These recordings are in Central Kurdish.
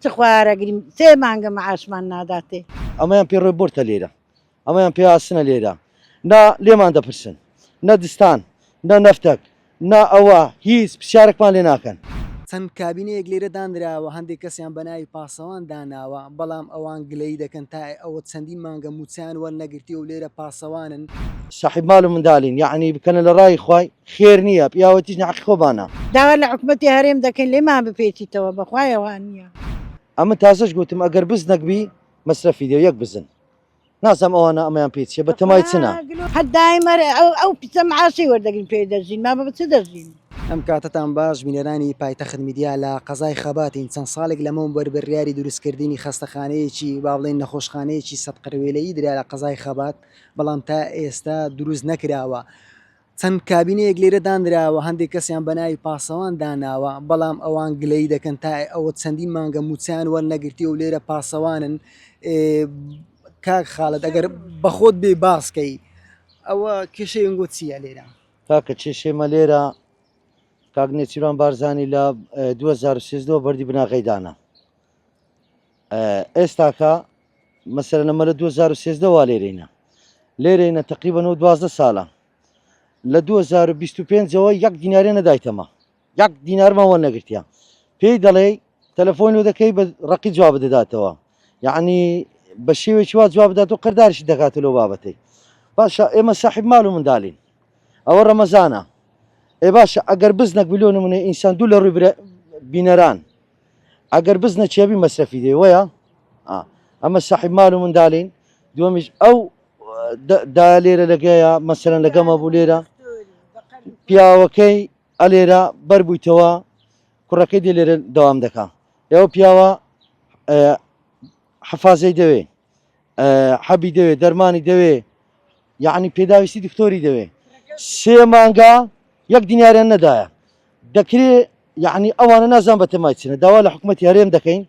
چ خوارە گریم سێ مانگە معاشمان ناداتێ. ئەمەیان پێ ڕێ بۆرتە لێرە ئەمەیان پێ ئاسنە لێرە نا لێمان دەپرسن نە دستان نە نەفتەک نا ئەوە هیچ پرسیارەکمان لێ ناکەن. چەند کابینەیەک لێرە دانراوە هەندێک کەسیان بە ناوی پاسەوان داناوە بەڵام ئەوان گلەیی دەکەن تا ئەوە چەندین مانگە مووچەیان وەرنەگرتیەو لێرە پاسەوانن. ساحیب مال و مندالین یەعنی بکەنە لە ڕای خوای. خێر نیە پیاوەتیش نەعەقی خۆبانە. داوا لە حکومەتی هەرێم دەکەین لێمان بپێچیتەوە بەخوایە وانیە. ئەمن تازەش گۆتم ئەگەر بزنەک بی مەسرەفی دێ یەک بزن نازام ئەوانە ئەمەیان پێ چیە بەتەمای چنە. هەر دایمە ئەو پیسە معاشەی وەردەگرین پێی دەژین مامە بە چ دەژین. ئەم کاتەتان باش بینەرانی پایتەخت میدیا لە قەزای خەباتین چەند ساڵێک لەمەوبەر بریاری دروست کردنی خەستەخانەیەکی با بڵێین نەخۆشخانەیەکی سەد قرەوێلەیی درا لە قەزای خەبات بەڵام تا ئێستا دروست نەکراوە. چەند کابینەیەک لێرە دانراوە، هەندێک کەسیان بە ناوی پاسەوان داناوە، بەڵام ئەوان گلەیی دەکەن تا ئەوە چەندین مانگە مووچەیان وەرنەگرتیە و لێرە پاسەوانن. کاک خالد ئەگەر بەخۆت بێ باسکەی ئەوە کێشەی ئەنگۆ چییە لێرە؟ کاکە کێشێمە لێرە کاک نێچیران بارزانانی لە 2013 بەردی بناغەی دانا ئێستاکە مەسەلەن ئەمە لە دوو هەزار و سێزدە وا لێرەینە لێرەینە تقریبا و دوازدە ساڵە لە 2025ەوە یەک دینارێ نەدایتەمە یەک دینارمەوە نەگرتیان پێی دەڵێ تەلەفۆنی و دەکەی بە ڕقی جواب دەداتەوە یعنی بە شێوێکی وا جواب بدات و قەردارشی دەکات لەو بابەتی باشە ئێمە ساحب مال و منداالین ئەوە ڕەمەزانە ئێ باشە ئەگەر بزنەک بلیۆن منێ ئینسان دوو لە ڕووی بینەران ئەگەر بزنە چێبی مەسرەفی دەی وەیە ئەمە سەحیب مال و مندالین دووەمیش ئەو دا لێرە لەگەیە مەسەرەن لەگەمە بوو لێرە پیاوەکەی ئەلێرە بەربوویتەوە کوڕەکەی دێ لێرە دەوام دەکا ئێوە پیاوە حەفازەی دەوێ حەبی دەوێ دەرمانی دەوێ یعنی پێداویستی دکتۆری دەوێ سێ مانگا یەک دیناریان نەدایە دەکرێ یعنی ئەوانە نازان بە تەمای چنە داوا لە حکوومەت هەرێم دەکەین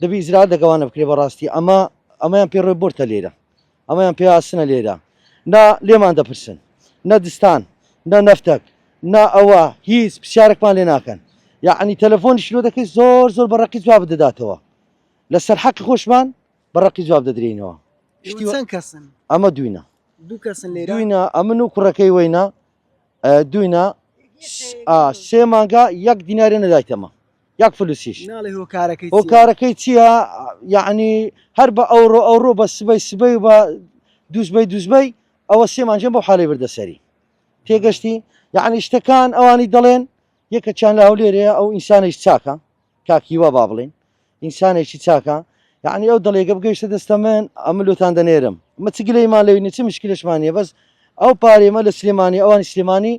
دەبی ئیزرال دەگەوانە بکرێ بەڕاستی ئەمە ئەمەیان پێ ڕێ بۆرتە لێرە ئەمەیان پێ ئاسنە لێرە نا لێمان دەپرسن نە دستان نە نەفتەک نا ئەوە هیچ پرسیارێکمان لێ ناکەن یعنی تەلەفۆنی شرۆ دەکەیت زۆر زۆر بەڕقی جواب دەداتەوە لە سەر حەقی خۆشمان بە ڕەقی جواب دەدرێینەوە ئەمە دوینە دوینە ئەمن و کوڕەکەی وەینە دوینە سێ مانگا یەک دینارە نەدایتەمە یەک فلوسیش ئەو کارەکەی چییە یعنی هەر بە ئەوڕۆ ئەوڕۆ بە سبەی سبەی بە دوزبەی دوزبەی ئەوە سێمانجێن بۆ حالی بردەسەری تێگەشتی یعنی شتەکان ئەوانی دەڵێن یەکەچیان لە هەولێرەیە ئەو ئینسانیش چاکە کاک هیوا با بڵێین ئینسانێکی چاکە یعنی ئەو دڵێکە بگەیشتە دەستە من ئەمە لۆتان دەنێرم مە چ گلەیمان لەوی نیە چ مشکلشمان نیە بەس ئەو پارێمە لە سلێمانی ئەوانی سلێمانی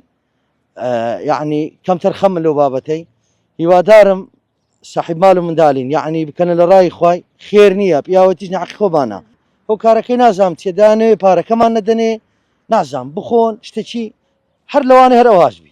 یعنی کەمتەر خەم لەو بابەتەی هیوادارم صاحب مال و مندالین یعنی بکەنە لە ڕای خی خێر نییە پیاوەتیش نعقی خۆبانە ئەو کارەکەی نازام تێدانێ پارەکەمان نەدەنێ نازام بخۆن شتێکی هەر لەوانە هەر ئەوهاش بی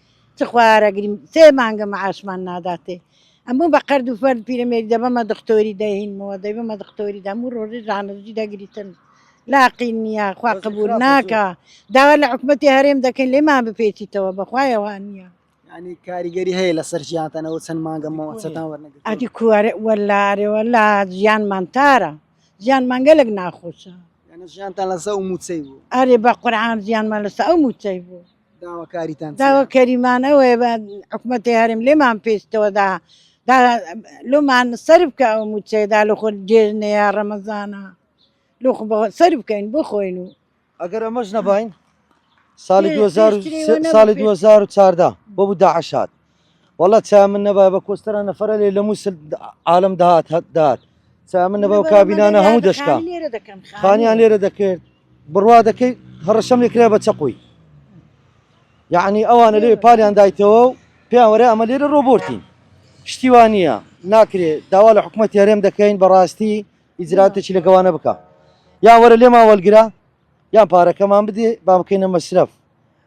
تخوا ئارەگریم سێ مانگە مەعاشمان ناداتێ ئەموو بە قەرد و فەرد پیرەمێری دەبەمە دختۆری دەهینمەوە دەیبەمە دختۆری دەموو ڕۆژی ژانەزی دەگریتن لاقی نییە خوا قبول ناکە داوا لە حکوومەتی هەرێم دەکەین لێمان بپێچیتەوە بەخوایەوە نییە ینی کاریگەری هەیە لەسەر ژیانتەنەوە چەند مانگە مەوەچەتان وەرنەگە ئەدی کوارێ وەلارێەوە لا ژیانمان تارە ژیان مانگەلک ناخۆشە ژیانتان لەسە و موچەی بوو ئەرێ بە قورعان ژیانمان لەسە ئەو موچەی بوو داواکاریمان ئەوەیە بە حکوومەتی هەرێم لێمان پێستەوەدا لۆمان سەر بکە ئەو موچەدا لە خۆ دێژنەیە ڕەمەزانە لۆ سەر بکەین بخۆین و ئەگەر ئەمەش نەبین ساڵی ساڵی 2014 بۆ بوو داعشات وەڵا چا من نەبا بە کۆستەرە نەفرە لێ لە مووسل عالم داات هەت داات چا من نەبا کابینانە هەموو دەشکا خانیان لێرە دەکرد بڕوا دەکەیت هەڕەشەم لێکرا بە چەقوی یعنی ئەوانە لێ پالیان دایتەوە و پێوەێ ئەمە لێرە ڕۆبۆرتین شتیوانە ناکرێت داوا لە حکوومەت یارێم دەکەین بەڕاستی ئیجراتێکی لەگەوانە بکە یان وەرە لێما وەلگرە یان پارەکەمان بدێ با بکەینە مەسرف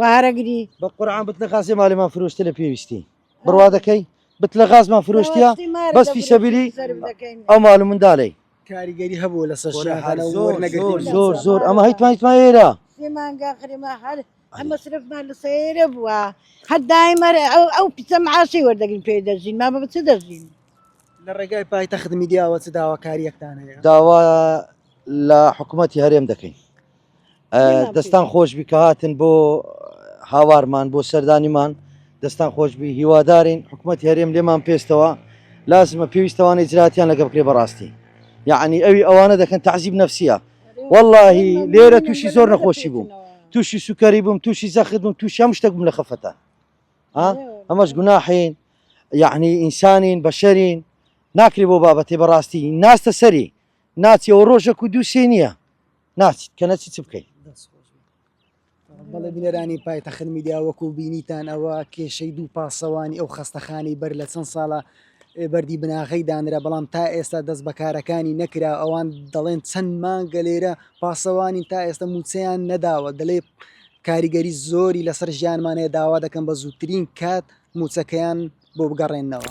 وارە گری بە قورعان بت لە غازێ مالێمان فرۆشتە لە پێویستی بڕوا دەکەی بت لە غازمان فرۆشتە بەس فیسەبیری ئەو مال منداڵی کاریگەری هەبوو لە سەر زۆر زۆر زۆر ئەمە هەیتمانیتمان ئێرە ئەمەسرفمان لە سەیرە بووە هەر دایمەرە ئەو ئەو پیسە معاسی وەردەگرین پێ دەژین ما بە چ دەژین لە ڕێگای پایتە خدمی دیاوە چ داواکاریەکتان هەیە داوا لە حکوومەتتی هەرێم دەکەین دەستان خۆشبی کە هاتن بۆ هاوارمان بۆ سەردانیمان دەستان خۆشبی هیوادارین حکوومەت هەرێم لێمان پێستەوە لازمە پێویستەوانە جراتیان لەگە بکرێ بەڕاستی یعنی ئەوی ئەوانە دەکەن تعزیب نفسە واللهی لێرە تووشی زۆر نەخۆشی بووم تووشی سوکەری بووم تووشی زەخت بووم تووشی هەم شتێک بووم لە خەفەتە ئەمەش گوناحین یعنی ئینسانین بەشەرین ناکری بۆ بابەتی بەڕاستی ناستە سەری ناچیەوە ڕۆژەک و دووسێ نییە ناچیت کە نەچی چ بکەیت بەڵێ بینەرانی پایتەخت میدیا وەکو بینیتان ئەوە کێشەی دوو پاسەوانی ئەو خستەخانی بەر لە چەند ساڵە بەردی بناغی دانرا بەڵام تا ئێستا دەست بەکارەکانی نەکرا ئەوان دەڵێن چەند مانگە لێرە پاسەوانی تا ئێستا موچەیان نەداوە دەڵێ کاریگەری زۆری لەسەر ژیانمانەیە داوا دەکەم بە زووترین کات موچەکەیان بۆ بگەڕێنەوە.